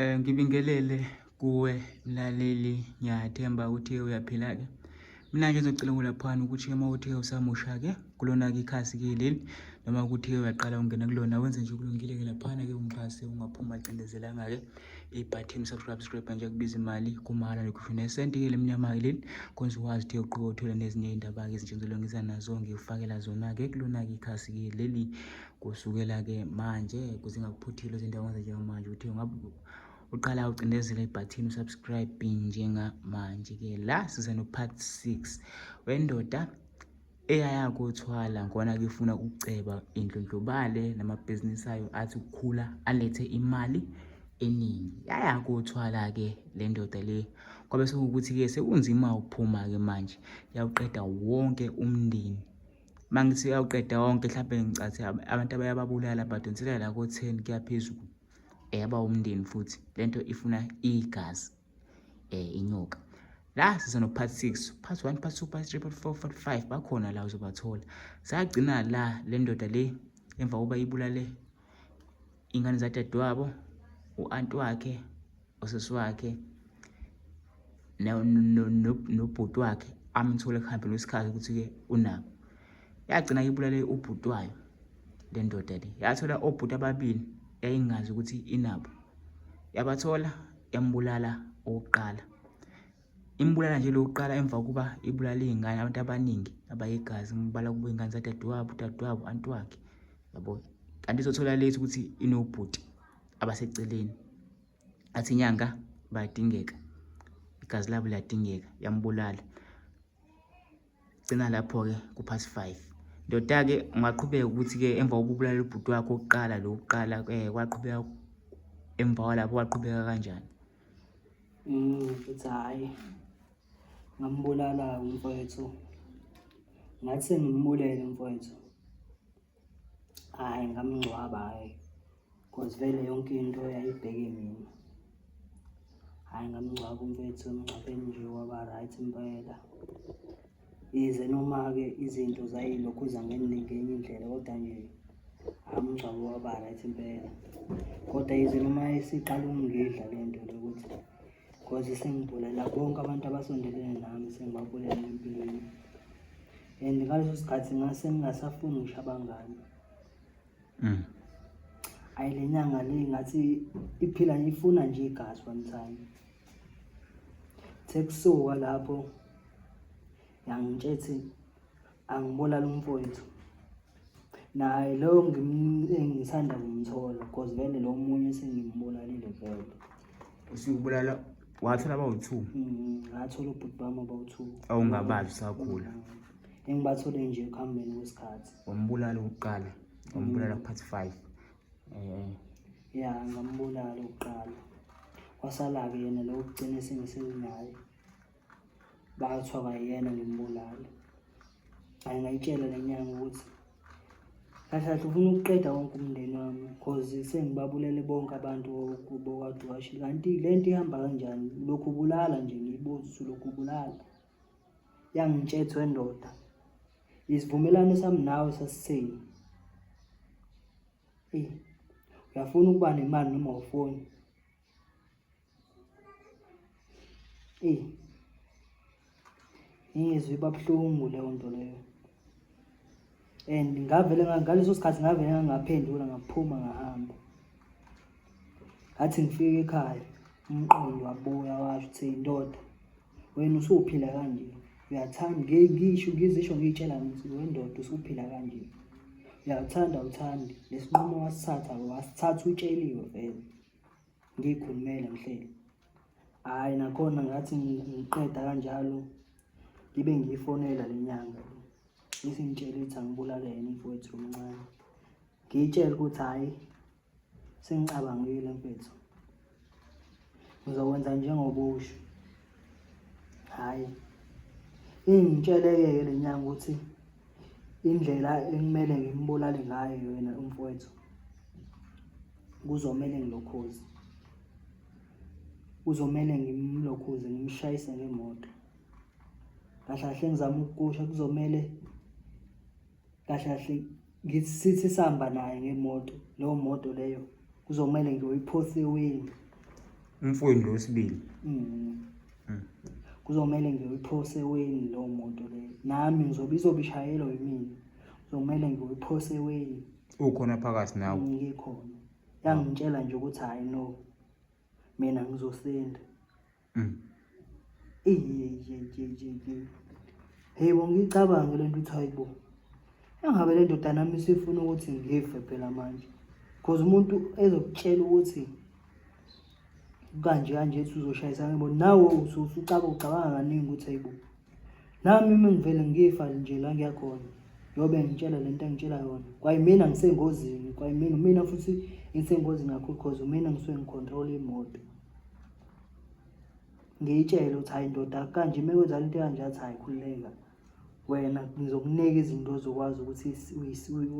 Eh ngibingelele kuwe mlaleli ngiyathemba ukuthi uyaphila ke. Mina nje ngizocela ukulaphana ukuthi uma uthe usamusha ke kulona ke ikhasi ke leli noma ukuthi uyaqala ungena kulona wenze nje kulungile ke laphana ke ungixhase ungaphuma cindezelanga ke i-button subscribe subscribe nje kubiza imali kumahhala nokusho nesenti ke lemnyama ke leli konze ukwazi ukuthi uqobo uthole nezinye izindaba ke ezintshenzelwe ngiza nazo ngikufakela zona ke kulona ke ikhasi ke leli Kusukela-ke manje kuze ngakuphuthile ezindaweni njengamanje ukuthi ngabe uqala ucindezela ibhathini usubscribe njengamanje-ke la size no-part six wendoda eyaya kothwala ngona kifuna ukuceba indlondlobale namabhizinisi ayo athi ukukhula alethe imali eningi yaya kothwala-ke le ndoda le kwabe sekuwukuthi-ke sekunzima ukuphuma-ke manje yawuqeda wonke umndeni uma ngithi uyawuqeda wonke mhlawumbe ngicathi abantu abayababulala badonsela la ko-ten kuyaphezulu eyaba umndeni futhi le nto ifuna igazi um inyoka la siza no-part six part one part two part three part four part five bakhona la uzobathola sagcina la le ndoda le emva kokuba ibulale iy'ngane zadadewabo u-anti wakhe usisi wakhe nobhuti wakhe amthole ekuhambeni kwesikhathi ukuthi-ke unabo yagcina ibulale ubhuti wayo le ndoda le yathola obhuti ababili yayingazi ukuthi inabo yabathola yambulala okokuqala imbulala nje lokuqala emva kokuba ibulala iy'ngane abantu abaningi abayigazi imbala kuba iy'ngane zadadewabo udadewabo anti wakhe yabo kanti izothola late ukuthi inobhuti abaseceleni athi inyanga bayadingeka igazi labo liyadingeka yambulala gcina lapho-ke ku-pass five ndoda-ke ungaqhubeka ukuthi-ke emva kokubulala ubhuti wakho okuqala lo kuqala um eh, kwaqhubeka emva kwalapho kwaqhubeka kanjani mm, futhi hhayi ngambulala umfowethu ngathi sengimbulele umfowethu hayi ngamngcwaba hayi cause vele yonke into yayibheke mina hayi ngamngcwaba umfethu emngcwabeni nje waba right impela yize noma-ke izinto zayilokhuza ngenye indlela kodwa nje amngcwabo waba right impela kodwa yize noma isiqala ukungidla le nto lokuthi Nkosi sengibulela bonke abantu abasondelene nami sengibabulela empilweni and ngaleso sikhathi ngase ngingasafuni ngisho abangani mm. ayi le nyanga le ngathi iphila ifuna nje igazi one time sekusuka lapho yangitshethi angibulala umfowethu naye loyo ngisanda kumthola cause vele lo munye sengimbulalile vele usukubulala wathola abawu-two mm, ngathola ubhuti bami abawu-two awungabazi usakhula mm. engibathole nje ekuhambeni kwesikhathi wambulala ukuqala wambulala mm. part five um ya ngambulala ukuqala kwasala-ke yena lo kugcine sengisenaye bathi abayena ngimbulale hayi ngayitshela le nyanga ukuthi kahle kahle ufuna ukuqeda wonke umndeni wami cause sengibabulele bonke abantu bokwaduwashi kanti le nto ihamba kanjani lokhu ubulala nje ngiyibuza usulokhu ubulala yangitshethwe ndoda isivumelwano sami nawe sasiseni eyi uyafuna ukuba nemali noma ufoni Eyi ngizwe iba buhlungu leyo nto leyo and ngavele ngaleso sikhathi ngavele ngangaphendula ngaphuma ngahamba ngathi ngifike ekhaya umqondo wabuya washo ukuthi indoda wena usuphila kanje uyathanda ngisho ngizisho ngiyitshela ngithi wendoda usuphila kanje uyathanda uthandi lesinqumo wasithatha wasithatha utsheliwe vele ngiyikhulumele mhleli hhayi nakhona ngathi ngiqeda kanjalo ngibe ngiyifonela le nyanga isingitshela ukuthi angibulale yena mfowethu omncane ngiyitshele ukuthi hhayi sengicabangile mfethu ngizokwenza njengoba usho hayi ingitsheleke-ke le nyanga ukuthi indlela ekumele ngimbulale ngayo yena umfowethu kuzomele ngilokhuze kuzomele ngimlokhuze ngimshayise ngemoto kahle kahle ngizama ukukusho kuzomele kahle kahle ngithi sithi sihamba naye ngemoto leyo moto leyo kuzomele nje uyiphose iwindi umfweni lo wesibili Mm. Mm. kuzomele nje uyiphose iwindi leyo moto leyo nami ngizobe izobe ishayelwa yimina kuzomele nje uyiphose iwindi ukhona phakathi nawe ngikhona yangitshela nje ukuthi hayi no mina ngizosenda Hey wangicabange lento uthi hayibo. Engabe le ndoda nami sifuna ukuthi ngife phela manje. Because umuntu ezokutshela ukuthi kanje kanje ethi uzoshayisana yebo nawe usucaba ucabanga kaningi ukuthi hayibo. Nami uma ngivele ngifa nje la ngiyakhona. Yobe ngitshela lento engitshela yona. Kwayimina ngisengozini, kwayimina mina futhi ngisengozini kakhulu because umina ngisuke ngicontrol imoto. ngiyitshele ukuthi hayi ndoda kanje uma kwenzala into kanje athi hayi khululeka wena ngizokunika izinto ozokwazi ukuthi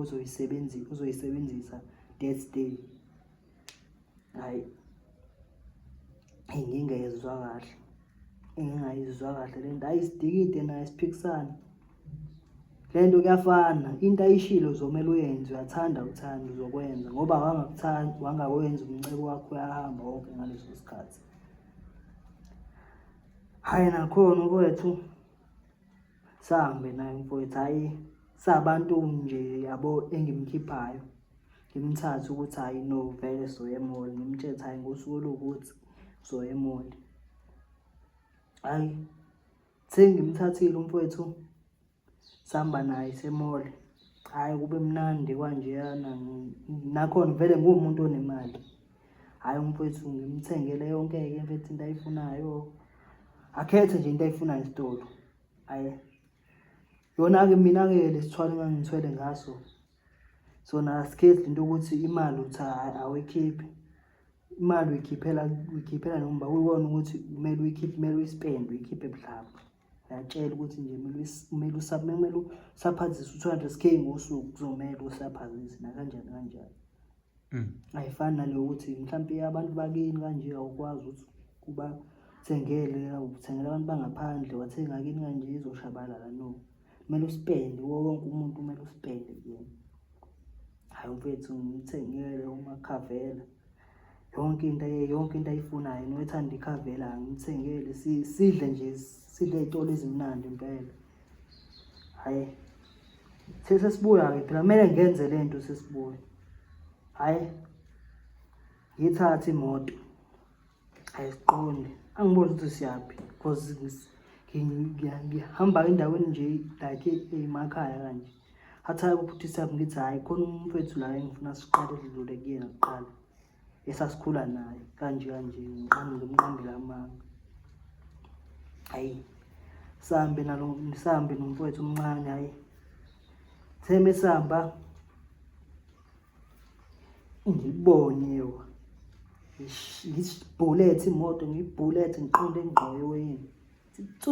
uzoyisebenzisa uzoyisebenzisa that day hayi engingayizwa kahle engingayizwa kahle le nto ayisidikide nayo siphikisane le nto kuyafana into ayishilo uzomele uyenze uyathanda uthanda uzokwenza ngoba wangakuthanda wangakwenza umncebo wakho uyahamba wonke ngaleso sikhathi hhayi nakhona ukwethu sahambe naye mfowethu hhayi sabantu nje yabo engimkhiphayo ngimthathe ukuthi hhayi no vele soye emoli ngimtshele hhayi ngosuku oluwukuthi soye emoli hhayi Sengimthathile umfowethu sihamba naye semole. Hhayi kube mnandi kwanjeyana nakhona vele nguwumuntu onemali. Hhayi umfowethu ngimthengele yonke-ke mfethu into ayifunayo. Akhethe nje into ayifunayo esitolo. Hhayi yona-ke mina-ke le sithwalo engangithwele ngaso so nasikhethi into ukuthi imali uthi awekhiphe imali uyikhiphela uyikhiphela nomba uyibona ukuthi kumele uyikhiphe kumele uyispend uyikhiphe mhlawumbe uyatshela ukuthi nje kumele usaphe kumele usaphazise u-two hundred k ngosuku kuzomele usaphazise nakanjani kanjani mm. ayifani naleyo ukuthi mhlawumpe abantu bakini kanje awukwazi ukuthi kuba thengele uthengela abantu bangaphandle wathenga kini kanje izoshabalala no kumele usipende wonke umuntu kumele usipende kuyena hayi mfethu ngimthengele umakhavela yonke into yonke into ayifunayo noethanda ikhavela ngimthengele sidle nje sidle itolo ezimnandi impela hayi sesibuya ke phela kumele ngenze le nto sesibuya hayi ngithathe imoto ayiqondi angiboni ukuthi siyaphi because ngihamba endaweni nje like emakhaya kanje athaye ukuphuthisa yami ngithi hhayi khona umuntu wethu la engifuna siqale lidlule kuyena kuqala esasikhula naye kanje kanje ngimqambela amanga hayi sihambe nalo sihambe nomfowethu omncane hayi seme sihamba ngibone wa ngibhulethe imoto ngibhulethe ngiqonde engqoyo weyini ithi tsu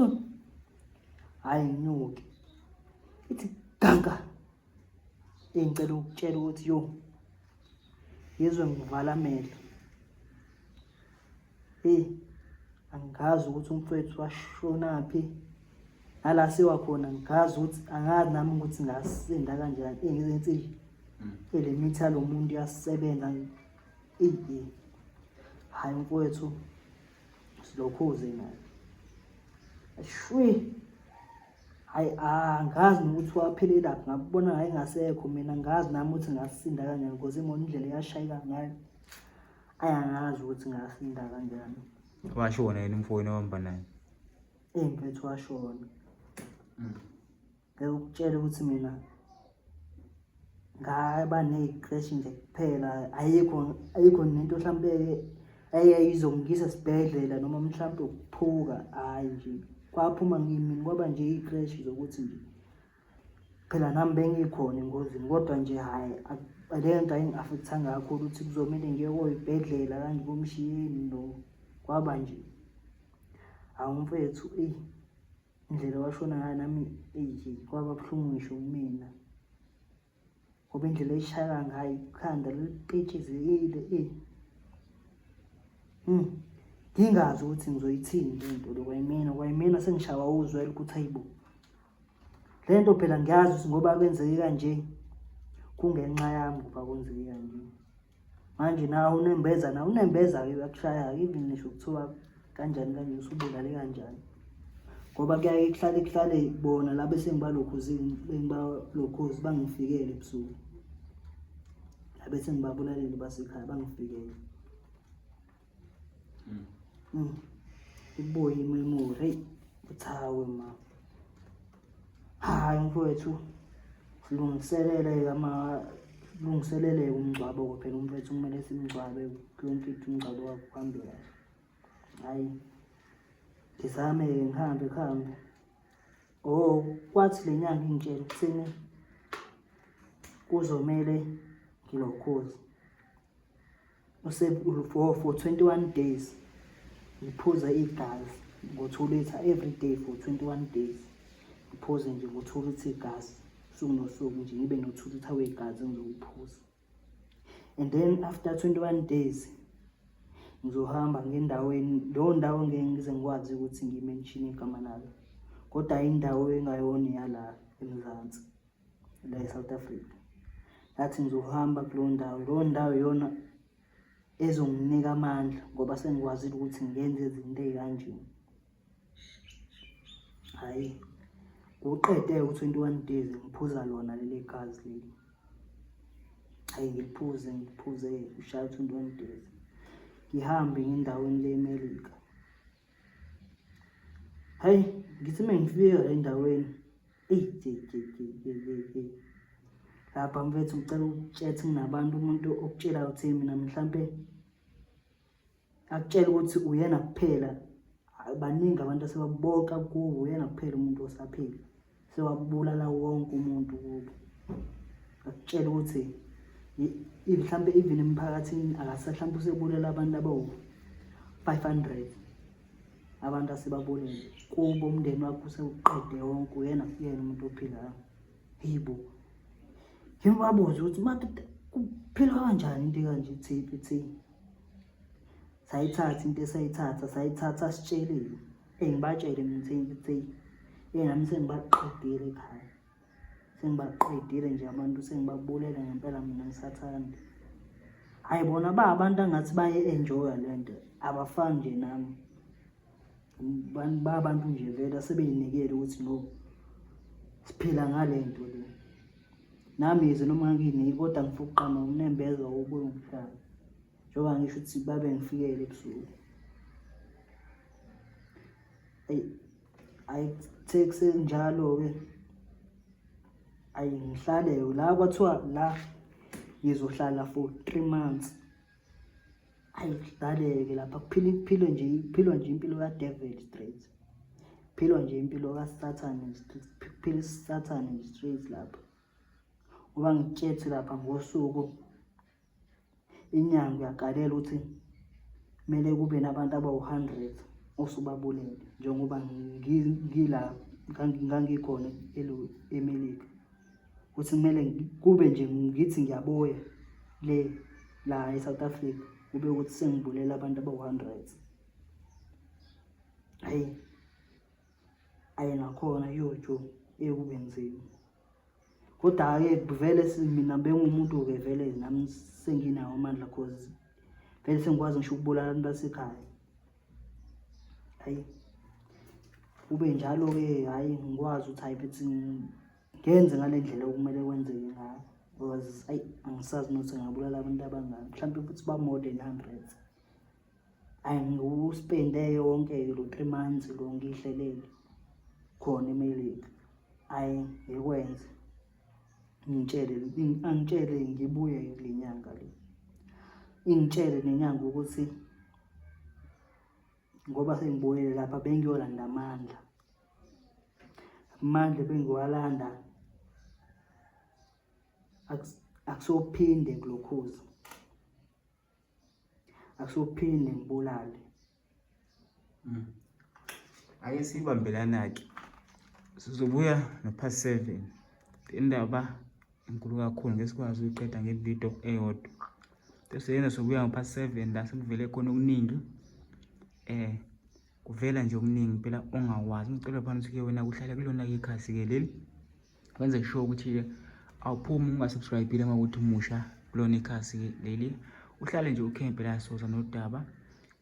hhayi nginyuke ithi ganka engicela ukutshela ukuthi yo yezwe ngivala amehlo Hey, angazi ukuthi umfowethu washonaphi nala siwa khona ngazi ukuthi angazi nami ukuthi ngasinda kanjani engizinsili mm. ele mitha lo muntu yasebenza iye hayi mfowethu silokhuze naye shwi hayi angazi nokuthi waphelelaphi ngabona ngaye ngasekho mina ngazi nami ukuthi ngasinda kanjani because imona indlela eyashayeka ngayo ayi angazi ukuthi ngasinda kanjani washona yena umfowenu ohamba naye eyi mfethu washona mm. ngeke ukutshela ukuthi mina ngaba ney'kreshi nje kuphela ayikho ayikho nento mhlawumpe eyayizongisa esibhedlela noma mhlawumpe ukuphuka hhayi nje kwaphuma ngimini kwaba nje iy'kreshi zokuthi nje phela nami bengikhona engozini kodwa nje hhayi leyo nto ayingi-afekthanga kakhulu ukuthi kuzomele ngiye koyibhedlela kanje komshiyeni no kwaba nje hawu mfethu eyi indlela washona ngayo nami eyi kwaba buhlungu ngisho kumina ngoba indlela eyishayeka ngayo ikhanda lipetshizekile e hmm. ngingazi ukuthi ngizoyithini le nto lo kwayimina kwayimina sengishawa uzwela ukuthi ayibo le nto phela ngiyazi ukuthi ngoba kwenzeke kanje kungenxa yami ngoba kwenzeke kanje manje nawe unembeza nawe unembeza-ke uyakushaya-ke even ngisho kuthiwa kanjani kanje usubulale kanjani ngoba kuyaye kuhlale kuhlale bona laba esengibalokhuzi bengibalokhuzi bangifikele ebusuku laba esengibabulalele basekhaya bangifikele iboyi memory heyi uthawe ma hayi mfowethu lungiseleleke ama lungiseleleke umngcwabo kophela umfowethu kumele simngcwabe yonke into umngcwabo wakho kuhambe kahle hayi ngizame-ke ngihambe kuhambe o oh, kwathi le nyanga ingitshela ukuthini kuzomele ngilokhozi for, for 21 days ngiphuza igazi ngo-two litre every day for 21 days ngiphuze nje ngo-two litre igazi suku nosuku nje ngibe no-two litre wegazi ngizokuphuza and then after 21 days ngizohamba ngendaweni leyo ndawo ngeke ngize ngikwazi ukuthi ngimenshine igama layo kodwa indawo engayona yala emzansi la eSouth Africa ngathi ngizohamba kuleyo ndawo leyo ndawo iyona ezonginika amandla ngoba sengikwazile ukuthi ngenze izinto ey'kanjeni hhayi kuqede u-twenty one days ngiphuza lona leli gazi leli hhayi ngiliphuze ngiliphuze ushaya u-twenty one days ngihambe ngendaweni le-melika Hayi, ngithi uma ngifika endaweni. Eyi, je, je, je, je, je, je. Lapha mfethu ngicela ukutshela ukuthi nginabantu umuntu okutshela ukuthi mina mhlampe akutshela ukuthi uyena kuphela baningi abantu asebabonka kuwo uyena kuphela umuntu osaphila sewabulala wonke umuntu kubo akutshela ukuthi mhlampe even emphakathini akasahlampe usebulala abantu abawu-500 abantu asebabulele kubo umndeni wakho usewuqede wonke uyena kuyena umuntu ophilayo yibo yimi babuze ukuthi madoda kuphilwa kanjani into kanje thiphi thiphi sayithatha into esayithatha sayithatha sitshelile engibatshele ngithini ukuthi engami sengibaqedile ekhaya sengibaqedile nje abantu sengibabulela ngempela mina ngisathanda hayi bona ba abantu angathi baye-enjoya le nto abafani nje nami ba abantu nje vele asebeyinikele ukuthi no siphila ngale nto le nami yize noma ngingiyini kodwa ngifuna ukuqama unembeza wokuye umhlaba njengoba ngisho ukuthi babe ngifikele ebusuku eyi ayithe kusenjalo-ke ayi ngihlale la kwathiwa la ngizohlala for three months ayi kudaleke lapha kuphila kuphilwe nje kuphilwa nje impilo kadevil straight kuphilwa nje impilo kasathane kuphila isathane nje straight lapha ngoba ngitshethi lapha ngosuku inyanga uyagalela ukuthi kumele kube nabantu abawu-hundred osubabulele njengoba ngila ngangikhona emelika ukuthi kumele kube nje ngithi ngiyaboya le la e-south africa kube ukuthi sengibulela abantu abawu-hundred hhayi aye nakhona yojo ekube nzima Kodwa-ke kuvele mina bengumuntu-ke vele nami senginawo amandla cause vele sengikwazi ngisho ukubulala abantu basekhaya hayi kube njalo-ke hhayi ngikwazi ukuthi hhayi bethi ngenze ngale ndlela okumele kwenzeke ngayo because ayi angisazi nokuthi ngingabulala abantu abangaki mhlawumpe futhi ba-more than hundred ayi ngiwuspende yonke lo three months lo ngihlelele khona emelika ayi ngikwenze ngitshele angitshele ngibuye kule nyanga le ingitshele nenyanga ukuthi ngoba sengibuyile lapha bengiyolanda amandla amandla bengiwalanda akusophinde kulokhuza akusophinde ngibulale mm. ake siyibambelana-ke sizobuya no-past seven indaba enkulu kakhulu ngesikwazi ukuyiqeda ngevidiyo eyodwa sesoyenza sobuya ngo-past seven la sekuvele khona okuningi um kuvela nje okuningi phela ongawazi ngicela phana usuke wena kuhlala kulona-ke ikhasi-ke leli wenze sure ukuthi awuphumi ungasubscribile uma ukuthi umusha kulona ikhasi leli uhlale nje ukhempe la soza nodaba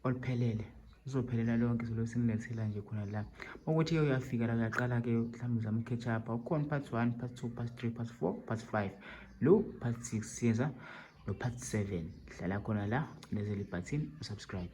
oluphelele uzophelela lonke izolo simlethela nje khona la ukuthi ke uyafika la uyaqala ke mhlawumbe uzama ukhetch up ukhona part 1 part 2 part 3 part 4 part 5 lo part 6 siyenza no part 7 hlala khona la cinezela ibutton usubscribe